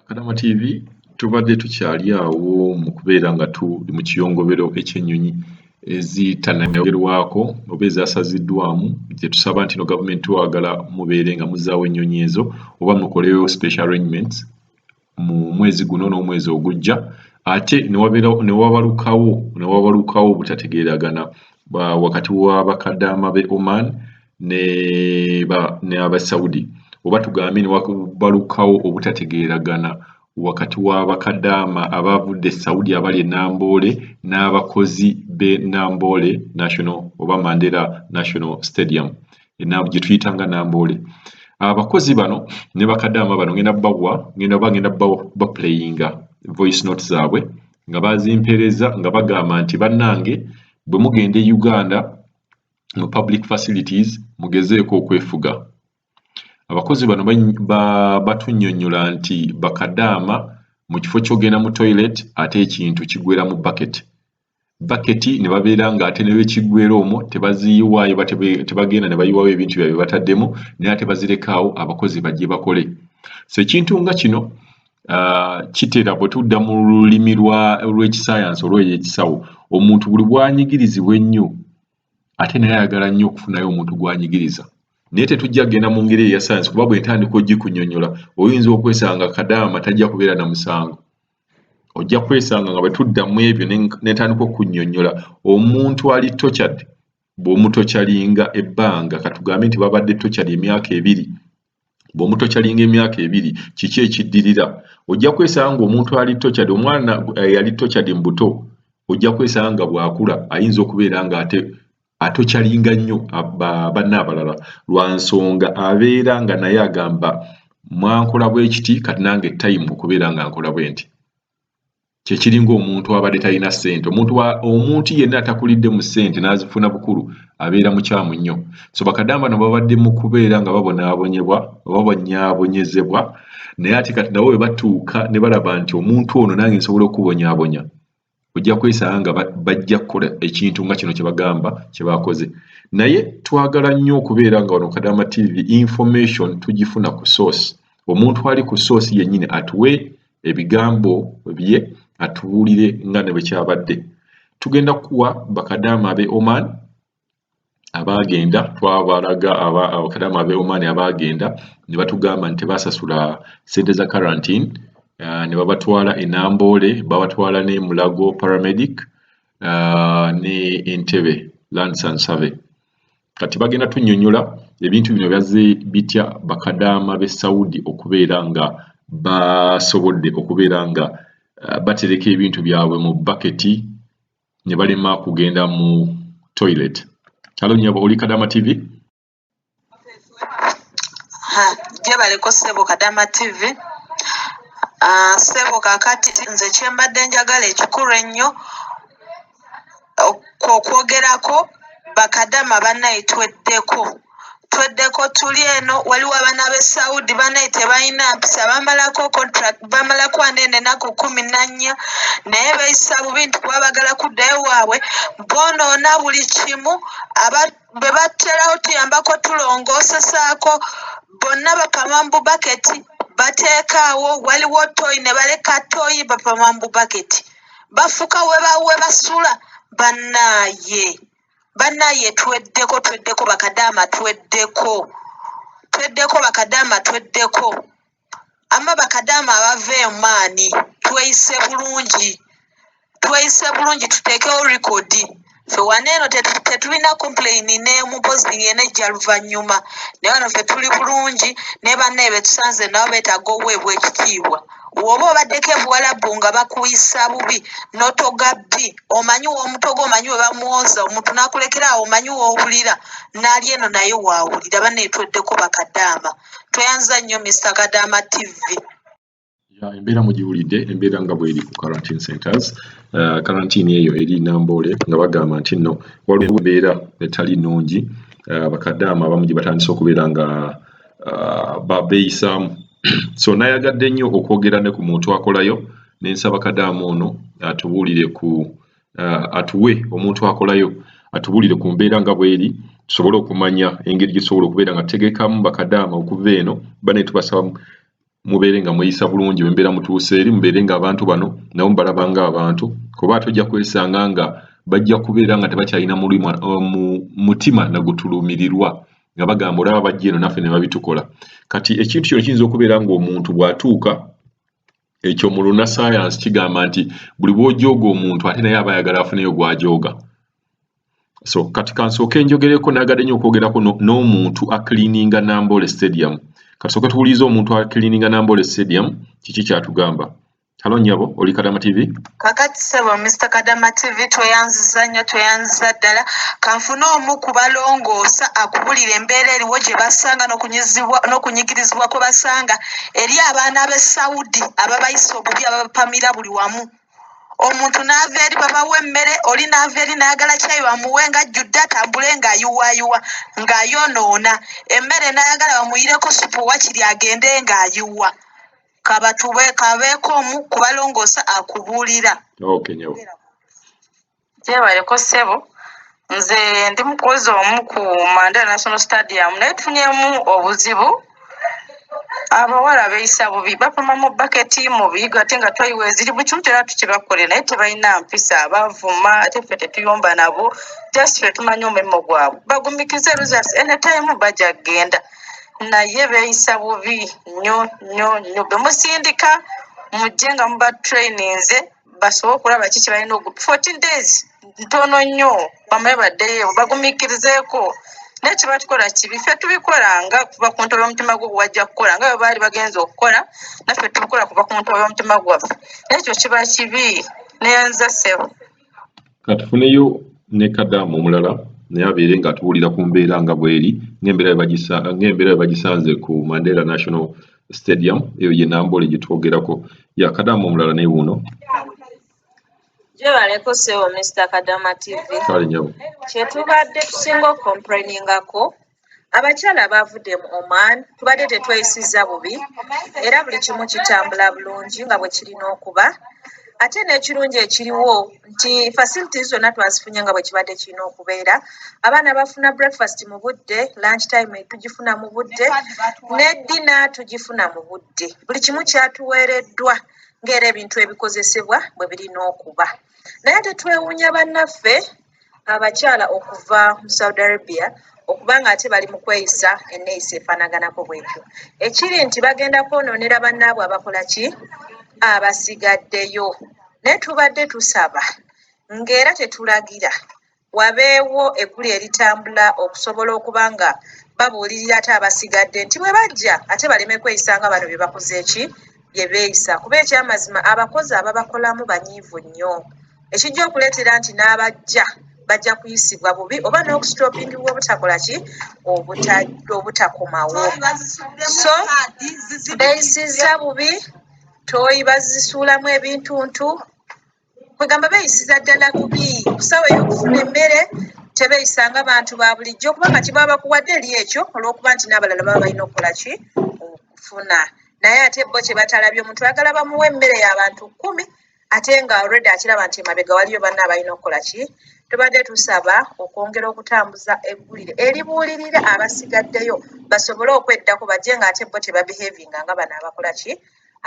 Kadama TV tubadde tukyali awo mu kubeera nga tuli mu kiyongobero ekyennyonyi ezitanayogerwako oba ezasaziddwamu gye tusaba nti no gavumenti twagala mubeere nga muzaawo ennyonyi ezo oba mukolewo special arrangements mu mwezi guno n'omwezi ogujja ate newabalukawo newabalukawo obutategeeragana wakati wa bakadaama be Oman ne ba ne aba Saudi oba tugambe ne wakubalukawo obutategeeragana wakati wa bakadaama abaavudde e Saudi abali e Namboole n'abakozi b'e Namboole National oba Mandela National Stadium gye tuyita nga Namboole. Abakozi bano ne bakadaama bano ngenda bawa ngenda oba ngenda baplayinga voice note zaabwe nga bazimpereza nga bagamba nti bannange bwe mugenda e Uganda mu public facilities mugezeeko okwefuga abakozi bano batunnyonnyola nti bakadaama mu kifo ky'ogenda mu toilet ate ekintu kigwera mu bucket baketi ne babeera ng'ate ne lwekiggwera omwo tebaziyiwaayo tebagenda ne bayiwawo ebintu byabye bataddemu naye ate bazirekaawo abakozi bajje bakole so ekintu nga kino ah, kitera bwe tudda mu lulimi lw'ekisayansi olweyo ekisawo omuntu buli bwanyigirizibwa ennyo ate naye ayagala nnyo okufunayo omuntu gw'anyigiriza naye tetujja kugenda mu ngeri eya sayansi kuba bwentandika ogikunyonyola oyinza okwesanga kadaama tajja kubeera na musango ojja kwesanga nga bwetudda mu ebyo netandika okunyonyola omuntu ali tochad bw'omutokyalinga ebbanga katugambe nti babadde tochad emyaka ebiri bwomuto kyalinga emyaka ebiri kiki ekiddirira ojja kwesanga nga omuntu ali tochad omwana eh, yali tochad mu buto ojja kwesanga nga bwakula ayinza okubeera nga ate atokyalinga nnyo banna abalala lwa nsonga abeera nga naye agamba mwankola bwekiti kati nange time okubeera nga nkola bwenti kyekiringa omuntu abadde talina sente omuntu omuntu yenna atakulidde mu sente n'azifuna bukulu abeera mukyamu nnyo so bakadamba no babadde mu kubeera nga babonaabonyebwa babonyabonyezebwa naye ate kati nabo bwe batuuka ne balaba nti omuntu ono nange nsobola okubonyabonya ojja kwesanga nga bajja kukola ekintu nga kino kyebagamba kyebakoze naye twagala nnyo okubeera nga wano kadamba tv information tugifuna ku source omuntu ali ku source yennyini atuwe ebigambo bye atubuulire nga ne bwe kyabadde tugenda kuwa bakadaama ab'e oman abaagenda twabalaga abakadaama ab'e oman abaagenda ne batugamba nti tebaasasula ssente za quarantine ah, ne babatwala e namboole babatwala ne mulago paramedic ah, ne entebe lands and survey kati bagenda tunyonyola ebintu bino byazze bitya bakadaama be saudi okubeera nga basobodde okubeera nga uh, batereka ebintu byabwe mu baketi ne balema kugenda mu toilet halo nyabo oli kadama tv gyebaleko sebo kadama tv uh, sebo kakati nze kyembadde njagala ekikulu ennyo okwogerako bakadama banaye tweddeko tweddeko tuli eno waliwo abaana be saudi banaye tebalina mpisa bamalako contract bamalako ane nenaku kumi nannya naye beyisa bubi nti kuba bagala kuddayo waabwe bonoona buli kimu aba bwe baterawo tuyambako tulongosesaako bonna bapama mu bubaketi bateekaawo waliwo toyi ne baleka toyi bapama mu bubaketi bafuka webasula banaye banaye tweddeko tweddeko bakadama tweddeko tweddeko bakadama tweddeko ama bakadama abava emaani tweyise bulungi tweyise bulungi tutekewo likodi fe wano eno tetu- tetulina complain nemu mpozi yena ejja luvannyuma naye wano fe tuli bulungi ne banne betusanze nabo betaaga oweebwa ekitiibwa woba obaddeko ebuwalabu nga bakuyisa bubi notoga bbi omanyi womutoga omanyi webamwoza omuntu nakulekera awo omanyi wowulira nali eno naye wawulira banne tweddeko bakadaama tweyanza nnyo mr kadaama tv Ya, embeera mugiwulidde embeera nga bweri ku quarantine centers uh, quarantine eyo eri namboole nga bagamba nti nno waliwo embeera etali nnungi uh, bakadaama abamu gye batandise okubeera nga uh, babeeyisaamu so nayagadde nnyo okwogera ne ku muntu akolayo nensaba kadaamu ono atubuulire ku uh, atuwe omuntu akolayo atubuulire ku mbeera nga bweri tusobole okumanya engeri gyetusobola okubeera nga tutegekamu bakadaama okuva eno bane tubasaba mubeere nga mweyisa bulungi wembeera mutuuse eri mubeere nga abantu bano nabo mubalaba nga abantu kuba ate ojja kwesanga nga bajja kubeera nga tebakyalina uh, mutima nagutulumirirwa nga bagamba olaba bajja eno naffe nebabitukola kati ekintu kino kiyinza okubeera ngaomuntu bwatuuka ekyo mu lunasayansi kigamba nti buli bwojooga omuntu ate naye aba ayagala afuneyo gwajooga so kati kansooke njogereko nagadde nyo okwogerako n'omuntu acleaninga nambole stadium kasooke tuwuliriza omuntu acleaninga nambole stadium kiki kyatugamba halo nyabo oli kadama tv kakati sebo mr kadama tv tweyanziza nnyo tweyanziza ddala kanfune omu kubalongoosa akubulira embeera eriwo gye basanga n'okunyigirizibwa kwe basanga eri abaana b'e saudi ababayisa obubi ababapamira buli wamu omuntu n'ava eri babawa emmere oli n'ava eri n'ayagala kyayi bamuwe nga ajjudde atambule ng'ayiwaayiwa ng'ayonoona emmere n'ayagala bamuyireko supu wakiri agende ng'ayiwa kabatube kabeeko omu kubalongoosa akubuulira okay, gyebaleko ssebo nze ndi mukozi omu ku mandela national stadium naye tufunyemu obuzibu abawala beyisa bubi bapama mu baketi mubi ate nga twayiwa eziri buli kimu kyona tukibakole naye tebalina mpisa bavuma ate ffe tetuyomba nabo just fe tumanyi omulimo gwabwe bagumikize results anytime baja kugenda naye beyisa bubi nyo nyo nyo bemusindika mujje nga muba traininze basobole okulaba ki kyebalina ogu fourteen days ntono nnyo bamaye baddeyo bagumikirizeeko naye kyebatukora kibi ffe tubikora nga kuva ku ntobo y'omutima gwo gwewajja kukola nga bwebaali bagenza okukola naffe tubikola kuva ku ntobo y'omutima gwaffe naye ekyo kiba kibi neyanza sebo katufuneyo ne kadamu omulala naye abeere nga atuwulira ku mbeera nga bweri ngaembeera webagisanze ku mandela national stadium eyo ye namboole gyetwogerako ya kadamu omulala naye wuno gyebaleko sebo mr kadama tv kale nyabo kyetubadde tusinga okomprainingako Abakyala abaavudde mu Oman tubadde tetweyisizza bubi era buli kimu kitambula bulungi nga bwe kirina okuba ate n'ekirungi ekiriwo nti facilities zonna twazifunye nga bwe kibadde kirina okubeera abaana bafuna breakfast mu budde lunch time tugifuna mu budde ne ddina tugifuna mu budde buli kimu kyatuweereddwa ng'era ebintu ebikozesebwa bwe birina okuba naye tetwewuunya bannaffe abakyala okuva mu saudi arabia okuba nga ate bali mu kweyisa enneeyisa efaanaganako bwetyo ekiri nti bagenda kwonoonera bannaabwe abakola ki abasigaddeyo naye tubadde tusaba ng'era tetulagira wabeewo eggulu eritambula okusobola okuba nga babuulirira ate abasigadde nti bwe bajja ate baleme kweyisa nga bano bye bakoze eki bye beeyisa kuba ekyamazima abakozi ababakolamu banyiivu nnyo ekijja okuleetera nti n'abajja bajja kuyisibwa bubi oba n'okusitopingibwa obutakola ki obutakomawo so beeyisizza bubi tooyi bazisuulamu ebintuntu kwegamba beeyisiza ddala bubi kusawa ey'okufuna emmere tebeeyisa nga bantu ba bulijjo kubanga kiba bakuwadde eri ekyo olw'okuba nti n'abalala baba balina okukola ki okufuna naye ate bo kye batalabye omuntu ayagala bamuwa emmere y'abantu kkumi ate nga already akiraba nti emabega waliyo banna abalina okukola ki tubadde tusaba okwongera okutambuza eggulire eribuulirira abasigaddeyo basobole okweddako bajje nga ate bo tebabehavinga nga bano abakola ki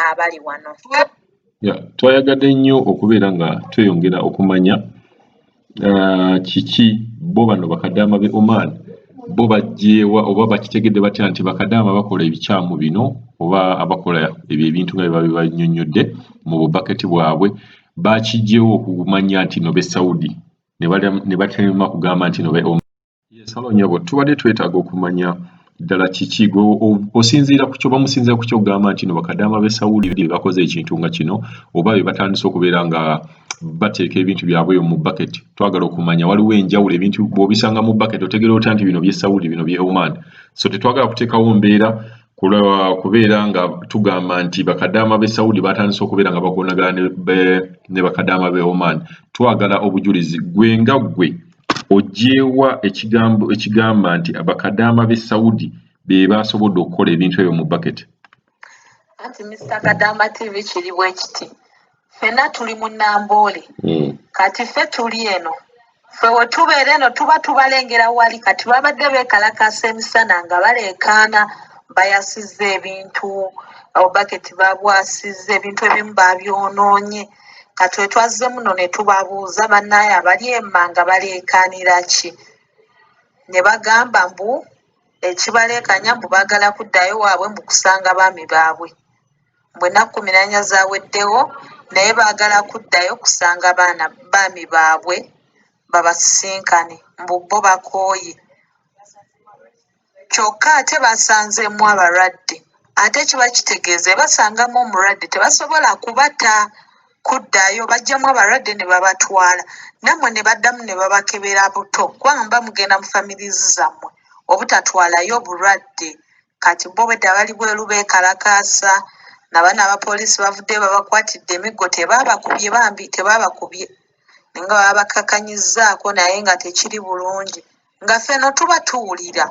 abali wano twayagadde nnyo okubeera nga tweyongera okumanya ah, kiki bo bano bakadaama be oman bo bajjeewa oba bakitegedde batya nti bakadaama bakola ebikyamu bino oba abakola ebyo ebintu nga byebabe banyonyodde mu bubaketi bwabwe bakijjewo okumanya nti no be saudi ne batema kugamba nti no be Yesalo nyabo tubadde twetaaga okumanya ddala kiki gwe osinziira ku kyoba musinziira ku kyogamba nti no bakadaama b'e sawuli be bakoze ekintu nga kino oba be batandise okubeera nga bateeka ebintu byabwe eyo mu bucket twagala okumanya waliwo enjawulo ebintu bw'obisanga mu bucket otegera otya nti bino by'e sawuli bino by'e oman so tetwagala kuteekawo mbeera kubeera nga tugamba nti bakadaama b'e sawuli batandise okubeera nga bagonagala ne bakadaama b'e oman twagala obujulizi gwe nga gwe Oggyeewa ekigambo ekigamba nti abakadaama b'e Saudi be baasobodde okukola ebintu ebyo mu baketi? Anti Mister Kadaama TV kiri bwe kiti. Ffenna tuli mu Namboole. Hmm. Kati ffe tuli eno. Ffe we tubeera eno tuba tubalengera wali kati babadde beekalakaasa emisana nga baleekaana bayasizza ebintu, baketi babwasizza ebintu ebimu baabyonoonye. katwe twazze muno ne tubabuuza bannaaye abali emanga baleekaanira ki ne bagamba mbu ekibaleekanya mbu baagala kuddayo waabwe mbu kusanga baami baabwe mbu ennaku kumi nanya zaweddewo naye baagala kuddayo kusanga baana baami baabwe babasisinkane mbu bo bakooye Kyokka ate basanzeemu abalwadde ate kiba kitegeeza ebasangamu omulwadde tebasobola kubata kuddayo bajjamu abalwadde ne babatwala nammwe ne baddamu ne babakebera buto kubanga muba mugenda mu families zammwe obutatwalayo bulwadde kati bo obwedda bali bweru beekalakaasa nabaana abapoliisi bavuddeyo babakwatidde emiggo tebaabakubye bambi tebaabakubye naye nga babakakanyizzaako naye nga tekiri bulungi. nga feno tuba tuwulira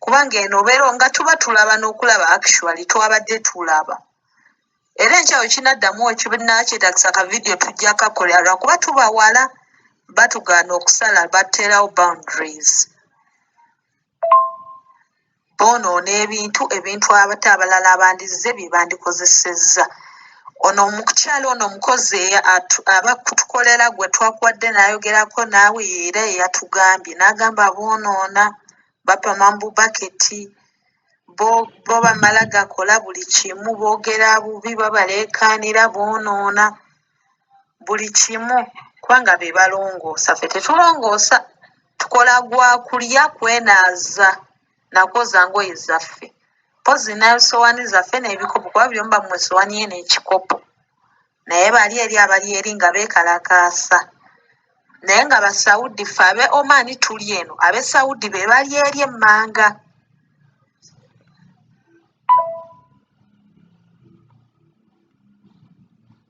kubanga eno obeera nga tuba tulaba n'okulaba actually twabadde tulaba era enkyawo kinaddamu ekibinakyetagisa ka vidiyo tujja kakolera lwakuba tuba wala batugaana okusala baterawo boundaries boonoona ebintu ebintu ate abalala abandizze bye bandikozesezza. Ono omukyala ono omukozi aba kutukolera gwe twakuwadde n'ayogerako naawe era eyatugambye n'agamba boonoona bapama mu bubaketi bo bamala gakola buli kimu boogera bubi babaleekaanira boonoona. buli kimu kubanga be balongoosa ffe tetulongoosa tukola gwa kulya kwenaaza na kwoza ngoye zaffe mpozzi ne ssowaani zaffe n'ebikopo kuba buli omu bamuwa essowaani ye n'ekikopo naye bali eri abali eri nga beekalakaasa naye nga basaudi ffe abe oman tuli eno abe saudi be bali eri emmanga